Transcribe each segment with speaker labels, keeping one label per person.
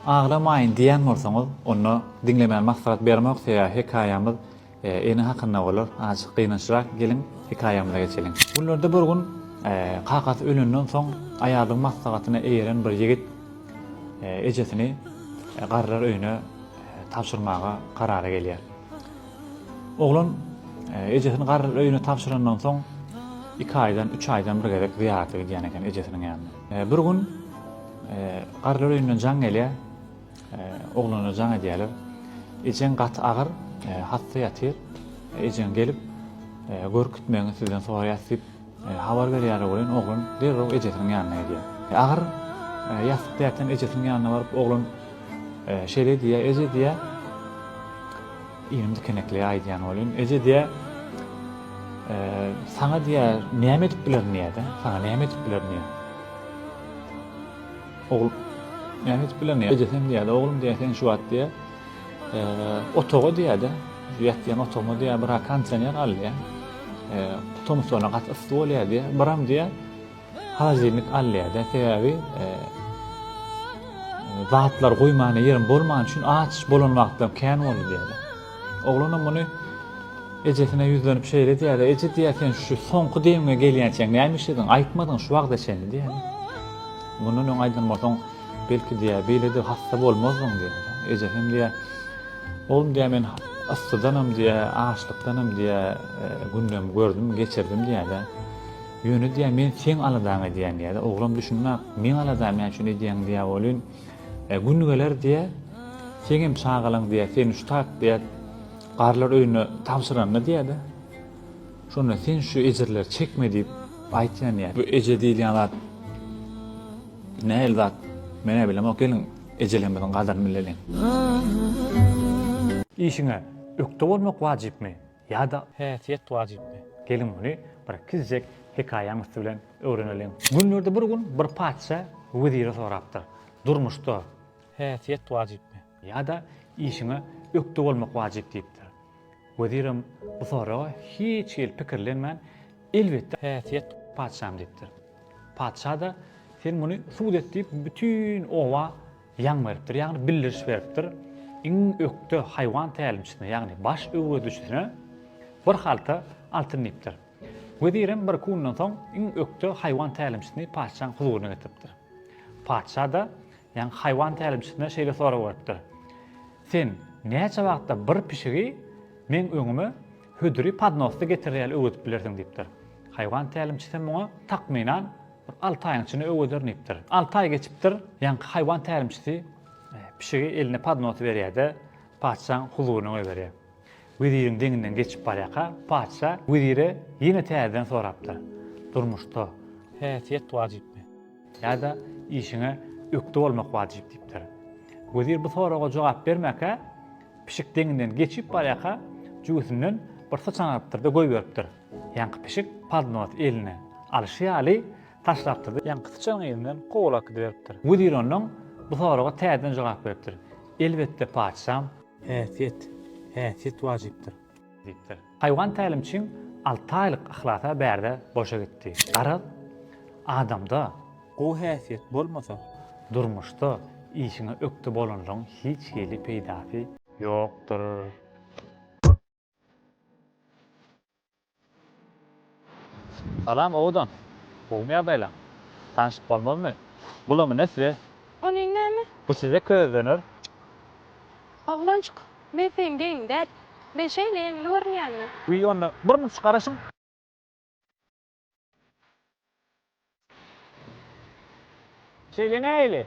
Speaker 1: Aglamaýyn diýýän bolsaňyz, onda diňlemän maslahat bermoksa ýa hekaýamyz ene hakynda bolar, azjyk gynançrak geliň hekaýamyza geçeliň. Günlerde bir gün kakasy ölenden soň aýalyň maslahatyna eýeren bir ýigit ejesini garrylar öýüne tabşyrmaga karara gelýär. Oglan ejesini garrylar öýüne tabşyrandan soň iki aýdan, üç aýdan bir gezek zyýarata gidýän eken ejesiniň ýanyna. Bir gün garrylar öýünden jaň gelýär. Oglanlar jaň edýärler. Ejeň gaty agyr, hassa ýatyr. Ejeň gelip, görkütmegiňi sizden soraýas diýip, habar berýärler welin, oglan derrew ejesiniň ýanyna gidýär. Agyr ýassykda ýatan ejesiniň ýanyna baryp, oglan şeýle diýýär, Eje diýýär. Inim dikeneklige aýdýan welin, Eje diýýä, saňa diýýä, näme edip bilerin diýýä-de, saňa näme edip bilerin diýýä. Ogul, näme edip bilerin diýýä. Ejesem diýýä-de, oglum diýýä, sen şu wagt diýýä, otaga diýýä-de, şu ýatýan otagyma diýýä, bir-ä kondisioner al diýýä. Tomus bolanda gaty yssy bolýar diýýä. Biram diýýä, Hajynyk alýada sebäbi zatlar goýmana ýerim bolmany üçin aç bolan wagtlarym kän boldy diýýärdi. Oglanam muny ejesine ýüzlenip şeýle diýýärdi, Eje diýýär sen şu soňky demiňe gelýänçäň näme işlediň, aýtmadyň şu wagta çenli diýýär. Mundan öň aýdan bolsaň belki diýýär beýlede hassa bolmazdyň diýýär. Ejesem diýýär, Oglum diýýär men yssydanam diýýär, açlykdanam diýýär gündem gördüm, geçirdim diýýär. Ýöne diýýär, men seň aladaňy edýän diýýär-de, oglam düşünmän, meň aladamy näme üçin edýäň diýýär welin, gün geler diýýär, seň hem çagalaň diýýär, seni şu taýyp diýýär, garrylar öýüne tabşyranda diýýär-de, şonda sen şu ejirleri çekme diýip aýtýan diýýär. Bu eje diýilýän zat nähili zat, men-ä bilemok, geliň, ejelerimiziň gadyryny bileliň. Işiňe ökde bolmak wajypmy? Ýa-da. Häsiýet wajypmy? Geliň muny bir kiçijek hekaýaň üsti bilen öwreneliň. Günlerde bir gün bir patyşa wezire sorapdyr, Durmuşda. Häsiýet wajypmy? Ýa-da işiňe ökde bolmak wajyp diýipdir. Wezirem bu soraga hiç hili pikirlenmän, Elbetde. Häsiýet. Patyşam diýipdir. Patyşa-da, Sen muny subut et diýip, bütin oba. Ýaň beripdir, ýagny bildiriş beripdir. Iň ökde haýwan tälimçisine, ýagny baş öwredijisine bir halta altyn diýipdir. Wezirem bir-iki gündan soň iň ökde haýwan tälimçisini patyşaň huzuryna getiripdir. Patyşa-da, ýagny haýwan tälimçisine şeýle sorag beripdir, Sen näçe wagtda bir pişigi meň öňüme hödüri podnosda getirer ýaly öwredip bilersiň diýipdir. Haýwan tälimçisem muňa takmynan Bir alty aýyň içinde öweder diýipdir. Alty aý geçipdir, ýaňky haýwan tälimçisi pişigi eline podnosy berýär-de, patyşanyň huzuryna goýberýär. Weziriň deňinden geçip barýarka, patyşa wezire ýene täzeden sorapdyr, Durmuşda. Häsiýet wajypmy? Ýa-da işiňe ökde bolmak wajyp diýipdir. Wezir bu soraga jogap bermänkä, pişik deňinden geçip barýarka, jübüsinden bir syçan alypdyr-da, goýberipdir. Ýaňky pişik podnos eline alşy ýaly taşlapdyr-da, ýaňky syçanyň elinden kowalak gidiberipdir. Wezir ondan bu soraga täzeden jogap beripdir, Elbetde, patyşam! Häsiýet, häsiýet wajypdyr. Diýipdir. Haýwan tälimçiň alty aýlyk yhlasa bärde boşa gitdi. Garaz, adamda. Gowy häsiýet bolmasa. Durmuşda işiňe ökde bolanlygyň hiç hili peýdasy. Ýokdur. Salam owadan! Gowmy ýagdaýlaň? Tanyşyp bolmazmy? Bulamy ne size? Ony näme?
Speaker 2: Bu size köz döner. Oglanjyk, men seň geýiň däl. Men şeýle ýeňil görünýänmi? Wiý onda bir
Speaker 1: müç garaşyň. Şeýle nähili?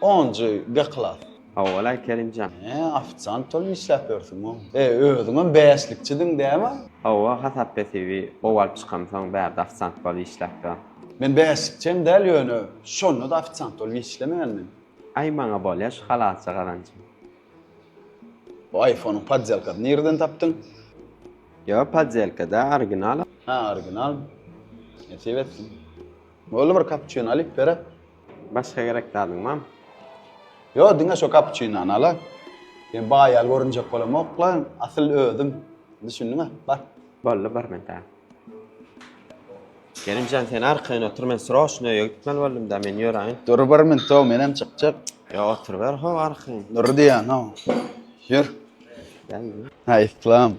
Speaker 3: Onjy B klas. Howwalaý
Speaker 4: Kerimjan. He, ofisiant bolup
Speaker 3: işläp ýörsüňo. E, özüňem bäşlikçidiň dämi? Howwa, hasap
Speaker 4: hesibi gowalyp çykamsoň bärde ofisiant bolup işläp ýörün. Men bäşlikçi
Speaker 3: hem däl ýöne, şonda-da ofisiant bolup işlemändim. Aý, maňa
Speaker 4: bolýa şu halalça gazanjym. Bu aýfonyň
Speaker 3: poddelkasyny nireden
Speaker 4: tapdyň?
Speaker 3: Ýok,
Speaker 4: poddelka-da,
Speaker 3: original. Hä, original. Nesip etsin. Boldy, bir kapuçino alyp ber-ä. Başga gerek
Speaker 4: zadyň bam? Ýok,
Speaker 3: diňe şo kapuçinony al-a. Sen baý ýaly görünjek bolamok-la, asyl özüm. Düşündiň-ä, bar. Boldy, bir mende.
Speaker 4: Kerimjan, sen arkaýyn otur, men sroçno öýe gitmeli boldum-da, men ýöräýin. Dur bir minut-ow, menem
Speaker 3: çykjak. Ýok, oturyber-how
Speaker 4: arkaýyn. Dur diýýän-ow.
Speaker 3: Ýör.
Speaker 4: Gel. Aýslam.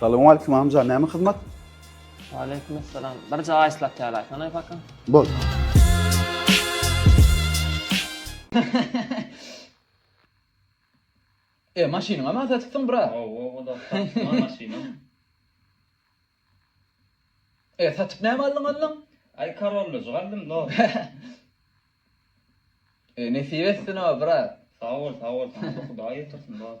Speaker 3: Salowmaleýkim amca, näme hyzmat? Waleýkim
Speaker 5: salam. Bir jaý aýslat ýalaýsana aý paka. Bol. E, maşynyňa ma satypsyň, bra? Owo, o da satypma
Speaker 1: maşynam.
Speaker 5: E, satyp näme aldyň ondan? Aý, Corollajyk
Speaker 1: aldym, no.
Speaker 5: E, nesip etsin o, bra. Sag bol, sag bol,
Speaker 1: saňa-da Hudaý ýetirsin, brat.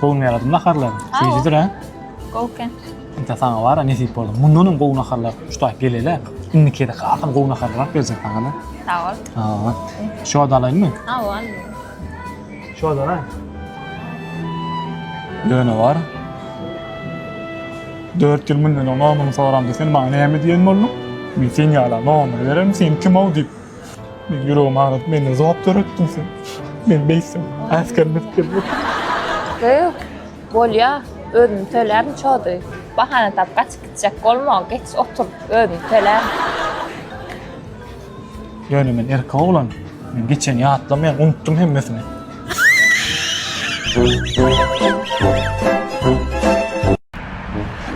Speaker 1: Gowy ýaradyň naharlary. Şeýdidir ha. Gowy eken.
Speaker 2: Indi saňa
Speaker 1: bar ya nesip boldy. Mundan hem gowy naharlar tutaýyp gelele. Indiki de hasam gowy naharlar alyp berjek saňa da. Sag ol.
Speaker 2: Ha.
Speaker 1: Şo da alaýynmy? Ha, ol. Şo da. Döne bar. 4 ýyl mundan öň onuň soranda sen maňa näme diýen bolduň? Men sen ýala nogamy bererin, sen kim-ow diýip. Men ýüregim agyrdy. Menden zowap döretdiň sen. Men beýtsem, äsgerim edip gelmek. Ýok,
Speaker 2: bolýa. Özüm tölärin, çody. Bahana tapyp gaçyp gitjek bolma. Geç otur, özüm tölärin.
Speaker 1: Ýöne men erkek oglan. Men geçeni ýatlamaýan, unutdym hemmesini.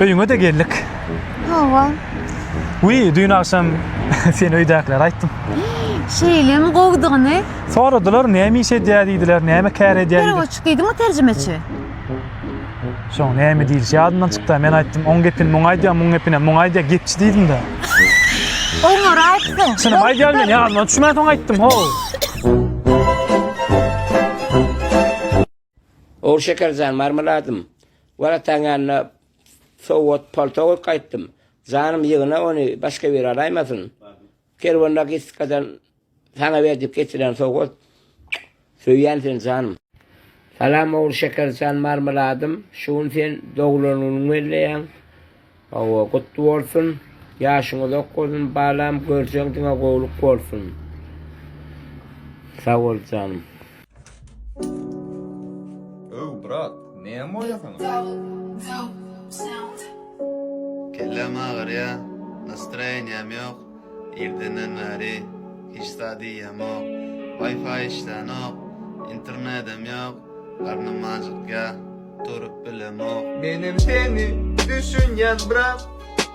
Speaker 1: Öýüňe-de geldik. Hawa.
Speaker 6: Wiý,
Speaker 1: düýn agşam seni öýdäkilere aýtdym. Şeýlemi
Speaker 6: gowudygyny? Soradylar, näme
Speaker 1: iş edýär diýdiler, näme kär edýär diýdiler. Perwoçik diýdiňmi terjimeçi? Soň näme diýilişi ýadymdan çykda, men aýtdym, oň gepini muňa aýdýaň, muň gepini muňa aýdýaň, gepçi diýdim-de. Oňňur
Speaker 6: aýtdyň. Çynym aýdýan men, ýadyma
Speaker 1: düşmän soň aýtdym, how.
Speaker 7: Ow Şeker jan, Marmeladym, wal ataň ýanyna sowgat palto goýup gaýtdym. Janym ýygna ony, başga biri alaýmasyn. Kerwanda gitdikden Saňa berdik getiren sowgat Söýýän seni janym. Salam ogul Şekerjan Marmeladym şu gün sen doglan günüň belleýäň Hawa gutly bolsun Ýaşyň uzak bolsun balam görjeň diňe gowluk bolsun Sag bol janym.
Speaker 8: Öw brat, näme bolýar
Speaker 9: saňa? Kelläm agyrýa, nastroýeniýam ýok, irdenden bäri hiç zat iýemok, wifi işlänok, internedem ýok, garnym ajykýa, durup bilemok. Menem seni
Speaker 8: düşünýän brat.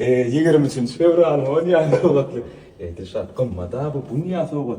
Speaker 10: Ýigrimi üçünji fewral, Onyýaz sowgatly. Eý, Dilşat, gymmat-a bu, bu näme sowgat?